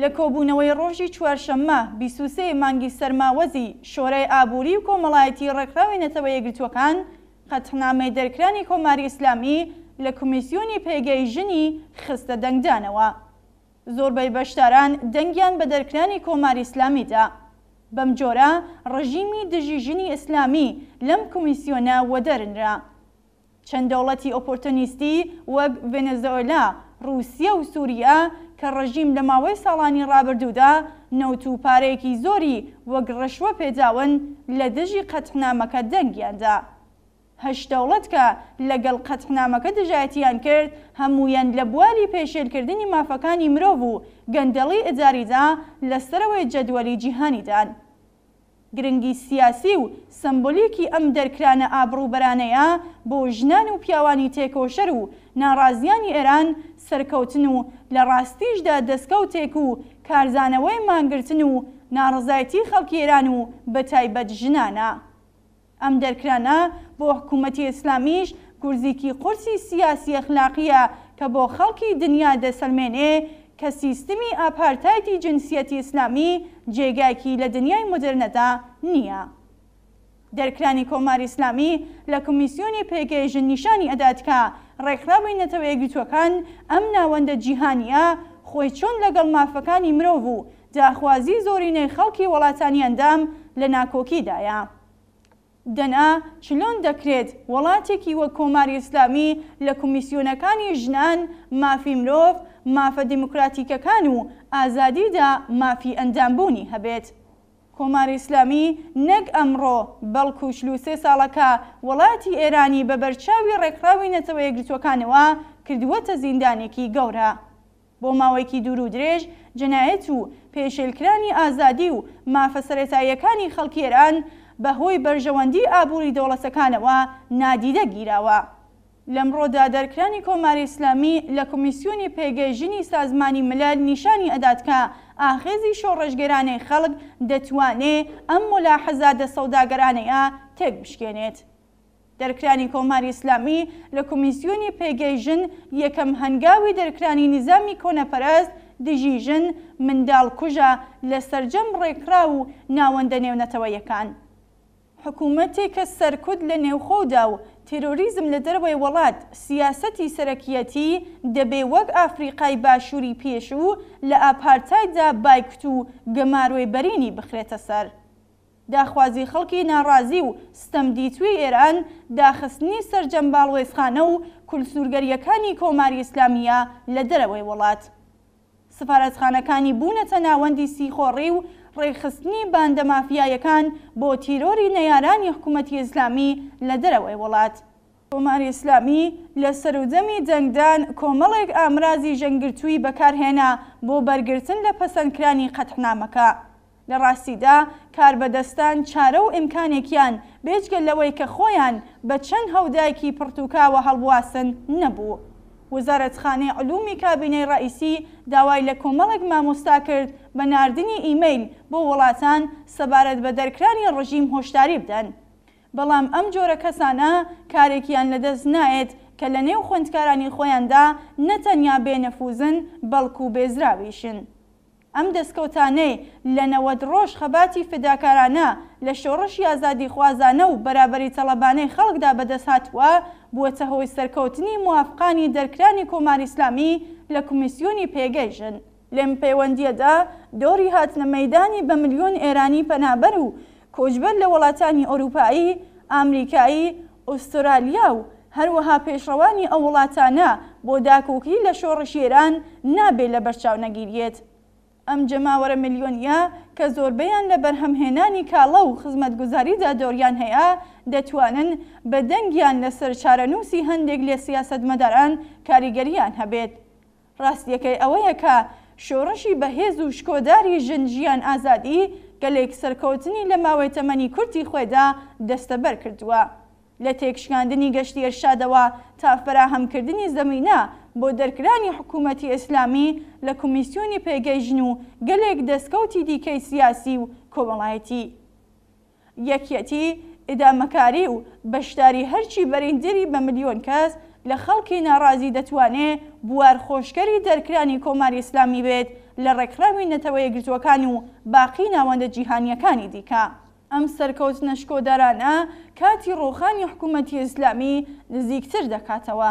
لە کۆبوونەوەی ڕۆژی چوارشەممە بیست و سێ ی مانگی سەرماوەزی شۆرای ئابووری و کۆمەڵایەتی ڕێکخراوی نەتەوە یەکگرتووەکان قەتحنامەی دەرکرانی کۆماری ئیسلامی لە کمیسیۆنی پێگەی ژنی خستە دەنگدانەوە زۆربەی بەشداران دەنگیان بە دەرکرانی کۆماری ئیسلامی دا بەم جۆرە ڕژیمی دژی ژنی ئیسلامی لەم کمیسیۆنە وەدەرنرا. چەند دەوڵەتی ئۆپۆرتۆنیستی وەک ڤێنێزۆئێلا، ڕووسیە و سووریە کە ڕژیم لە ماوەی ساڵانی ڕابردوودا نەوت و پارەیەکی زۆری وەک ڕشوە پێداون لە دژی قەتعنامەکە دەنگیان دا. هەشت دەوڵەت کە لە گەڵ قەتعنامەکە دژایەتیان کرد هەموویان لە بواری پێشێل کردنی مافەکانی مرۆڤ و گەندەڵی ئیداریدا لە سەرەوەی جەدوەلی جیهانیدان. گرنگی سیاسی و سەمبۆلیکی ئەم دەرکرانە ئابڕووبەرانەیە بۆ ژنان و پیاوانی تێکۆشەر و ناڕازیانی ئێران سەرکەوتن و لە ڕاستیشدا دەسکەوتێک و کارزانەوەی مانگرتن و ناڕزایتی خەڵکی ئێران و بە تایبەت ژنانە. ئەم دەرکرانە بۆ حکوومەتی ئیسلامیش گورزیکی قورسی سیاسی ئەخلاقییە کە بۆ خەڵکی دنیا دەسەلمێنێ کە سیستمی ئاپارتایدی جنسیەتی ئیسلامی جێگایکی لە دنیای مۆدێرنەدا نییە. دەرکرانی کۆماری ئیسلامی لە کۆمیسیۆنی پێگەی ژن نیشانی ئەدات کە ڕێکخراوی نەتەوە یەکگرتووەکان ئەم ناوەندە جیهانییە خۆی چۆن لەگەڵ مافەکانی مرۆڤ و داخوازی زۆرینەی خەڵکی وەڵاتانی ئەندام لە ناکۆکیدایە. دەنا چلۆن دەکرێت وەڵاتێکی وەک کۆماری ئیسلامی لە کومیسیۆنەکانی ژنان، مافی مرۆڤ، مافە دیموکراتیکەکان و ئازادیدا مافی ئەندامبوونی هەبێت؟ کۆماری ئیسلامی نەک ئەمڕۆ بەڵکو چل و سێ ساڵە کە وەڵاتی ئێرانی بە بەرچاوی ڕێکخراوی نەتەوە یەکگرتووەکانەوە کردووەتە زیندانێکی گەورە. بۆ ماوەیەکی دوور و درێژ جەنایەت و پێشێلکرانی ئازادی و مافە سەرەتاییەکانی خەڵکی ئێران بە هۆی بەرژەوەندیی ئابووری دەوڵەتەکانەوە نادیدە گیراوە. لەمڕۆدا دەرکرانی کۆماری ئیسلامی لە کۆمیسیۆنی پێگەی ژنی سازمانی ملەل نیشانی ئەدات کە ئاخێزی شۆڕشگێرانەی خەڵک دەتوانێ ئەم مولاحەزاتە سەوداگەرانەیە تێک بشکێنێت. دەرکرانی کۆماری ئیسلامی لە کۆمیسیۆنی پێگەی ژن یەکەم هەنگاوی دەرکرانی نیزامی کۆنەپەرەست دژی ژن، منداڵ کوژە لە سەرجەم ڕێکخراو و ناوەندە نێونەتەوەیەکان. حکوومەتێک کە سەرکوت لە نێوخۆودا و تێرۆریزم لە دەرەوەی وەڵات سیاسەتی سەرەکییەتی، دەبێ وەک ئافریقای باشووری پێشوو لە ئاپارتایددا بایکوت و گەمارۆی بەرینی بخرێتە سەر. داخوازی خەڵکی ناڕازی و ستەمدیتووی ئێران داخستنی سەرجەم باڵوێزخانە و کولسورگەرییەکانی کۆماری ئیسلامییە لە دەرەوەی وڵات. سفارەتخانەکانی بوونەتە ناوەندی سیخۆڕی و ڕێکخستنی باندە مافیایەکان بۆ تیرۆری نەیارانی حکوومەتی ئیسلامی لە دەرەوەی وڵات. کۆماری ئیسلامی لە سەروودەمی دەنگدان کۆمەڵێک ئامرازی ژەنگگرتووی بەکار هێنا بۆ بەرگرتن لە پەسەندکرانی قەدحنامەکە. لە ڕاستیدا کاربەدەستان چارە و ئیمکانێکیان بێجگە لەوەی کە خۆیان بە چەند هەودایکی پڕتووکاوە هەڵبواسن نەبوو. وزارەتخانەی علومی کابینەی ڕەئیسی داوای لە کۆمەڵێک مامۆستا کرد بە ناردنی ئیمەیل بۆ وڵاتان سەبارەت بە دەرکرانی ڕژیم هۆشداری بدەن. بەڵام ئەم جۆرە کەسانە کارێکیان لەدەست نایەت کە لە نێو خوێندکارانی خۆیاندا نە تەنیا بێ نەفووزن بەڵکوو بێزراویشن. ئەم دەسکەوتانەی لە نەوەد ڕۆژ خەباتی فیداکارانە لە شۆڕشی ئازادیخوازانە و بەرابەری تەڵەبانەی خەڵکدا بەدەست هاتووە، بووەتە هۆی سەرکەوتنی موافقانی دەرکرانی کۆماری ئیسلامی لە کۆمیسیۆنی پێگەی ژن. لەم پێوەندییەدا دۆڕی هاتنە مەیدانی بە ملیۆن ئێرانی پەنابەر و کۆچبەر لە وەڵاتانی ئۆرووپایی، ئامریکایی، ئوسترالیا و هەروەها پێشڕەوانی ئەو وڵاتانە بۆ داکۆکی لە شۆڕشی ئێران نابێ لە بەرچاو نەگیریێت. ئەم جەماوەرە ملیۆنییە کە زۆربەیان لە بەرهەمهێنانی کاڵا و خزمەتگوزاریدا دۆڕیان هەیە دەتوانن بە دەنگیان لە سەر چارەنووسی هەندێک لە سیاسەتمەداران کاریگەرییان هەبێت ڕاستیەکەی ئەوەیە کە شۆڕشی بەهێز و شکۆداری ژن ژیان ئازادی گەلێک سەرکەوتنی لە ماوەی تەمەنی کورتی خۆێدا دەستەبەر کردووە لە تێکشکاندنی گەشتی ئێرشادەوە تا فەراهەم کردنی زەمینە بۆ دەرکرانی حکوومەتی ئێسلامی لە کومیسیۆنی پێگەی ژن و گەلێک دەستکەوتی دیکەی سیاسی و کۆمەڵایەتی. یەکیەتی، ئیدامەکاری و بەشداری هەرچی بەریندری بە ملیۆن کەس لە خەڵکی ناڕازی دەتوانێ بوار خۆشکەری دەرکرانی کۆماری ئیسلامی بێت لە ڕێکخراوی نەتەوە یەکگرتووەکان و باقی ناوەندە جیهانییەکانی دیکە. ئەم سەرکەوتنە شکۆدارانە کاتی ڕووخانی حکوومەتی ئیسلامی نزیکتر دەکاتەوە.